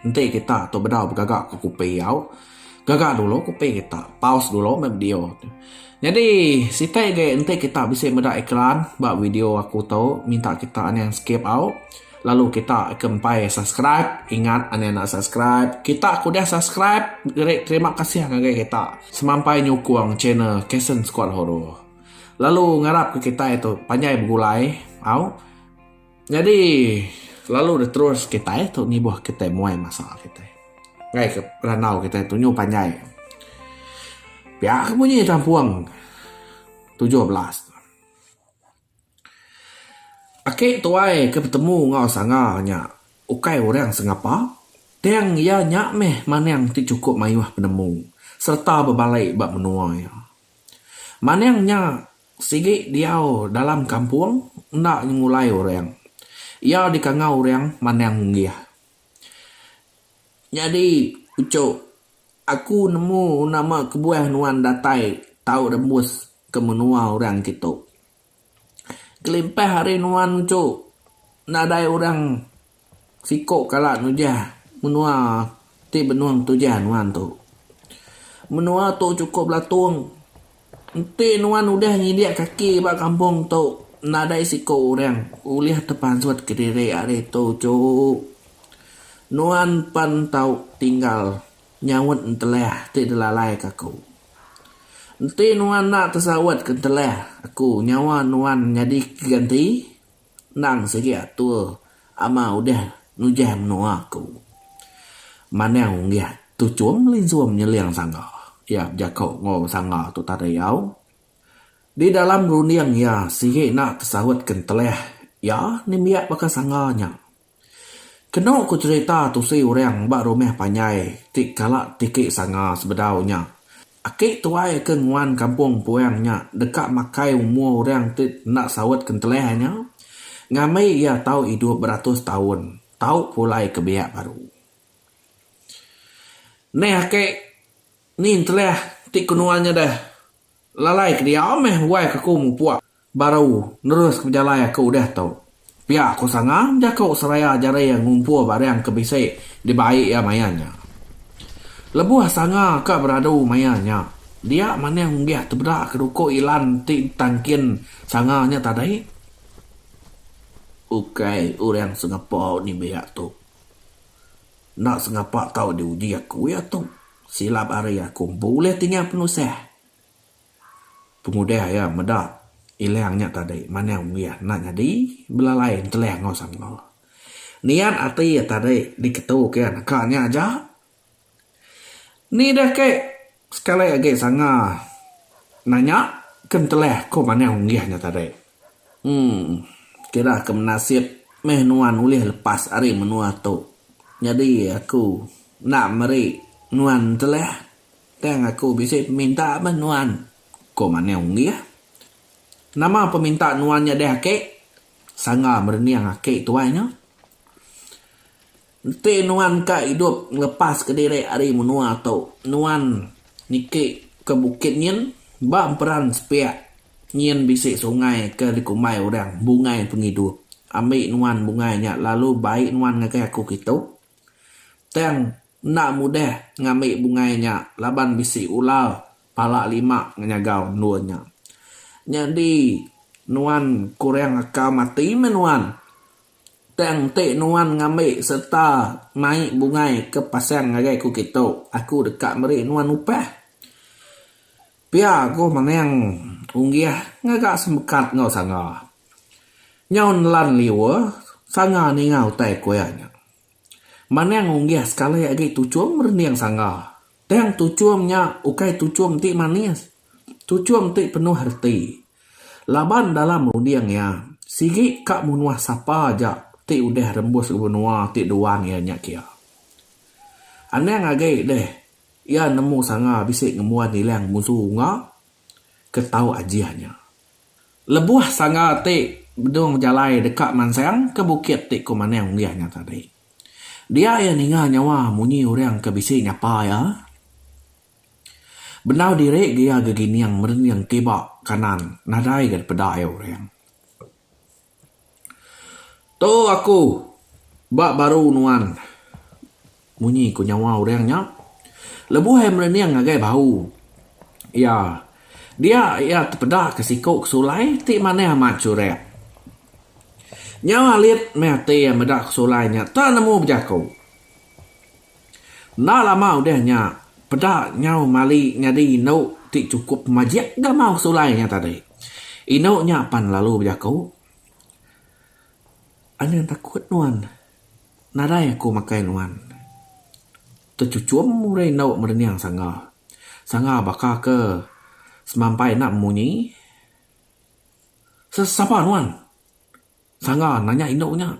Enti kita tu bedau begaga ke kupi au, gaga dulu kupi kita. Pause dulu meh video tu. Nyadi siti agi enti kita bisi meda iklan ba video aku tu minta kita anang skip au lalu kita ke empai subscribe. Ingat anang enda subscribe. Kita ke udah subscribe geri terima kasih ngagai kita semampai nyukung channel Kasen Skuad Horor. Lalu ngarap ke kitai tu panjai begulai au. Nyadi lalu deh terus kitai tu ngibuh kitai muai masa kitai ngaika randau kitai tu nyu panjai. Pia ke bunyi tampung tujuh belas tu. Aki tuai ke betemu enggau sanga nya ukai orang sengapa tang iya nya meh manang ti chukup mayuh penemu sereta bebalai ba menua iya. Manang nya. Sigi diau dalam kampung enda nyengulai orang. Iya dikangau orang manang munggih. Nyadi puchok aku nemu nama kebuah nuan datai tau rembus ke menua orang kitu. Kelimpah ari nuan muchok nadai orang. Siko kala nujah menua ti benung tujan nuan tu. Menua tu chukup belatung. Enti nuan udah nyidik kaki ba kampung tu, nadai siko orang ulih tepansut kediri ari tu chu. Nuan pan tau tinggal nyaut entelah ti dilalai ke aku. Enti nuan enda tesaut ke entelah aku nyawa nuan nyadi keganti. Endang sigi atur ama udah nujah menua aku. Manang unggih tu chum melinsum nyeling sangga iya bejako enggau sangga tu tadi au. Di dalam runding iya sigi enda tesaut ke entelih iya nembiak baka sangga nya. Kenu ku cherita tusi orang ba rumah panjai ti kala tiki sanga sebedau nya, aki tuai ke nguan kampung puang nya deka makai umur orang ti enda saut kentelah nya ngambi iya tau idup beratus taun tau pulai ke biak baru. Neh aki ni entelah ti kenuan nya deh lalai ke dia meh wai ke aku mupuk. Baru, neruska pejalai aku udah tu. Pia ku Sangang jaku seraya jaring ngumpul barang ke bisi dibai iya maya nya. Lebuh Sanga ka beradu maya nya, dia manah unggih tebeda keduku Ilan ti ditangkin Sanga nya tadi. Ukai orang sengapa nimbiak tu. Enda sengapa tau diuji aku iya tu. Silap hari aku empu ulih tinggal penusah. Pengudah iya meda Ilang nya tadi manah uih enda nyadi belalai entelah enggau sanga. Niat ati iya tadi diketu ke neka nya aja. Ni deh ke sekali agi sanga nanya ke entelah ko manah uih nya tadi. Uhh kira ke menasip meh nuan ulih lepas ari menua tu. Nyadi aku enda meri nuan entelah. Tang aku bisi peminta bah nuan, ko Maneng Unggih. Nama peminta nuan nya deh ake? sangga merening ake tuai nya. Enti nuan ka idup ngelepas ke diri ari menua tu, nuan niki ke bukit nyin ba emperan sepiak nyin bisi sungai ke dikumbai orang Bungai Pengidup. Ambi nuan bungai nya lalu bai nuan ngagai aku kitu. Tang. Enda mudah ngambi bungai nya laban bisi ular pala lima ngenyagau endur nya. Nyadi nuan kurang aka mati meh nuan tang enti nuan ngambi sereta mai bungai ke pasang ngagai aku kitu, aku deka meri nuan upah. Pia ku Manang Unggih ngaga semekat enggau Sanga. Nyau nelan liur, Sanga ninga utai kuya nya. Manang unggih sekali agi tuchum rening sangga. Tang tuchum nya ukai tuchum ti manis. Tuchum ti penuh reti. Laban dalam runding iya, sigi ka munuh sapa aja ti udah rembus benua ti duan iya nya kia. Anang agi deh iya nemu sangga bisi ngembuan ilang munsu unga ke tau ajih nya. Lebuh sanga ti Bedung bejalai deka mansang ke bukit ti ku Manang Unggih nya tadi. Dia iya ninga nyawa munyi orang ke bisi nyapa iya. Bendau diri ga iya gegining merening kiba kanan nadai ga dipeda iya orang. Tu aku ba baru nuan munyi ku nyawa orang nya lebuh iya merening ngagai bau iya dia iya tepeda ke siku ke sulai ti manah amat churak. Nyau alit meh ati iya meda ke sulai nya tak nemu bejaku. Enda lama udah nya, peda nyau mali nyadi indu ti chukup pemajik ga maoh sulai nya tadi. Indu nya pan lalu bejaku, Anang takut nuan, nadai aku makai nuan. Techuchum udah indu merenyang sangga. Sangga baka ke semampai enda memunyi. Sapa nuan? Sangga nanya indu nya.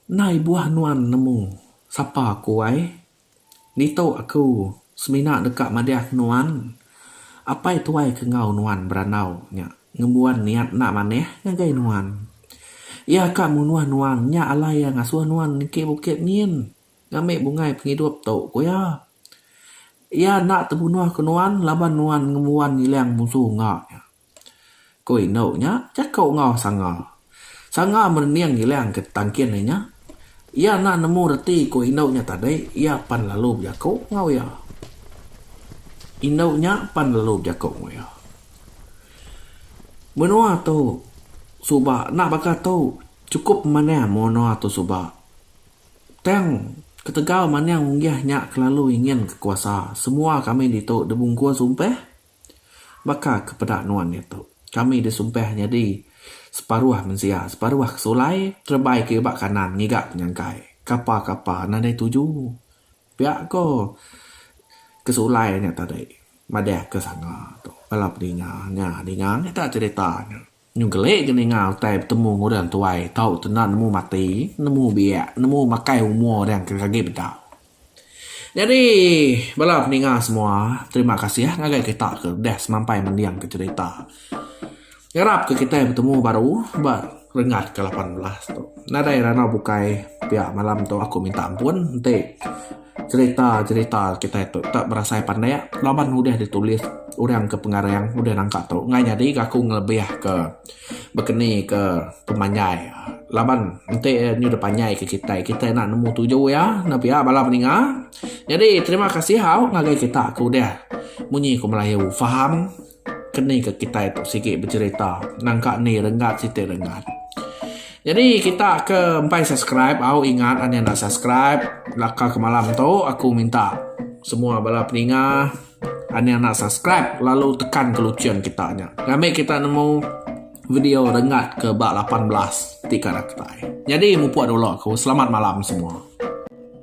Ndai buah nuan nemu sapa aku ai. Ngitu aku semina deka madahka nuan, apai tuai ke enggau nuan berandau nya ngembuan niat enda manah ngagai nuan. Iya ka munuh nuan nya alai iya ngasuh nuan niki bukit nyin ngambi bungai pengidup tu, ku iya. Iya enda tebunuhka nuan laban nuan ngembuan ngilang musuh enggau iya. Ku indu nya jaku enggau sanga. Sanga merening ngilang ke tangkin inya. Iya enda nemu reti ku indu nya tadi, iya pan lalu bejaku enggau iya. Indu nya pan lalu bejaku enggau iya. Menua tu suba enda baka tu chukup manah menua tu suba. Tang ketegal manah unggih nya kelalu nginginka kuasa. Semua kami ditu dibungkus umpih. Baka ke peda nuan diatu, kami disumpah nyadi separuh mensia, separuh ke sulai, terebai ke iba kanan ngiga penyangkai. Kapa-kapa nadai tuju. Pia ko ke sulai nya tadi, madahka sanga tu. Bala pedinga nya dinga mega cherita nya. Nyu geli ke ninga utai betemu enggau orang tuai tau tu enda nemu mati, nemu biak, nemu makai umur orang ke agi bedau. Nyadi bala peninga semua terima kasih ngagai kita ke udah semampai mending ke cherita. Ngarap ke kitai betemu baru ba renggat ke lapan belas tu. Nadai randau bukai pia malam tu aku minta ampun enti. Cherita cherita kitai tu enda berasai pandik laban udah ditulis orang ke pengarang udah nangka tu ngai nyadi ga aku ngelebih ke bekeni ke pemanjai laban enti nyu deh panjai ke kitai kitai enda nemu tuju iya enda pia bala peninga nyadi terima kasih au ngagai kita ke udah munyi ke melayu faham. Keni ke kitai tu sigi becerita nangka ni renggat siti renggat. Jadi kita ke empai subscribe au ingat anih enda subscribe laka ke malam tu aku minta semua bala peninga anih enda subscribe lalu tekan ke luchin kita nya ngambi kita nemu video renggat ke ba lapan belas ti kada kitai. Jadi mupuk dulu aku selamat malam semua.